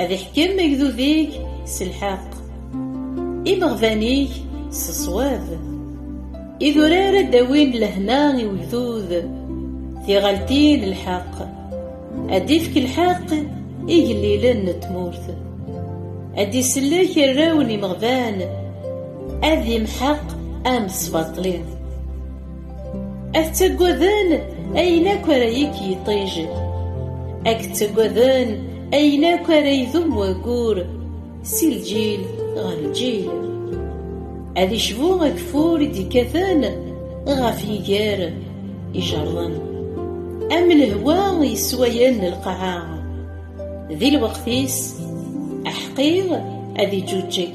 Ad iḥkem agdud-ik s lḥeqq, imeɣban-ik s ṣṣwab. Idurar ad d-awin lehna i wegdud, tiɣaltin n lḥeqq. Ad d-ifk lḥeqq igellilen n tmurt. Ad d-isellek arraw n imeɣban, ad imḥeq amesbaṭli. Ad ttaggaden ayen akk ara yekk yiṭij. Ad ttaggaden ayen akk ara idum wayyur si lǧil ɣer lǧil. Ad icbu ageffur i d-ikkaten ɣef yiger ijerḍen. Am lehwa yesswayen lqaɛa. Di lweqt-is, aḥeqqi ad iǧuǧǧeg.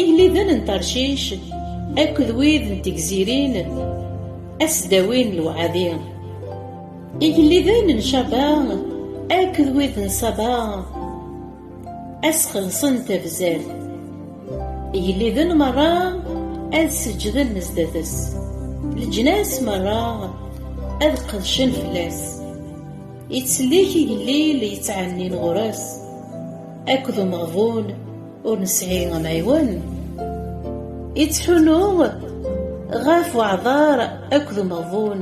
Igellilen n Tarcic akked wid n tegzirin asdawin lewɛadi. Igellilen n Caba akked wid n Saba asxelṣen tabzert. Igellilen merra ad seǧǧden sdat-s. Leǧnas merra ad qedcen fell-as. Ittsellik igellil yettɛennin ɣur-s akked umeɣbun ur nesɛi amɛiwen yettḥunu ɣef weɛḍar akked umeɣbun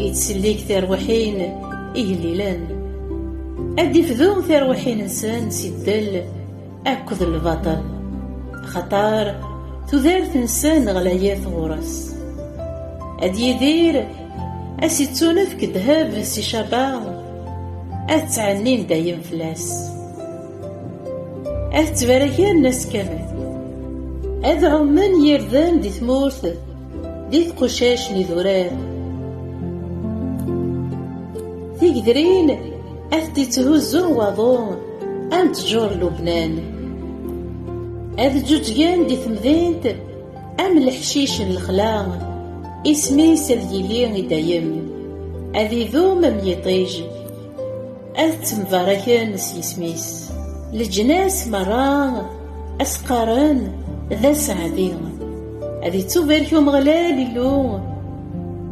yettsellik tarwiḥin igellilen ad d-ifdu tarwiḥin-nsen si ddel akked lbaṭel axaṭar tudert-nsen ɣlayet ɣur-s ad yidir ad s-ittunefk ddheb si caba ad ttɛennin dayem fell-as Ad ttbaraken ass kamel. Ad ɛummen yirden di tmurt, di tqucac n idurar. Tigedrin ad t-ittihuzzu waḍu am ttjur Lubnan. Ad ǧuǧgen di temdint am leḥcic n lexla, isem-is ad yili i dayem, ad idum am yiṭij. Ad ttembarraken s yisem-is. Leǧnas merra ad s-qqaren d aseɛdi. Ad ittubarek Umeɣlal Illu,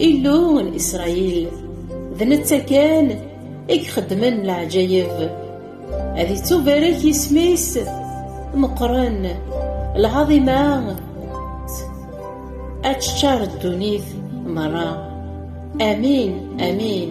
Illu n Isṛayil. D netta kan i ixeddmen leɛǧayeb. Ad ittubarek yisem-is meqqren, lɛaḍima ad teččar ddunit merra. Amin, amin.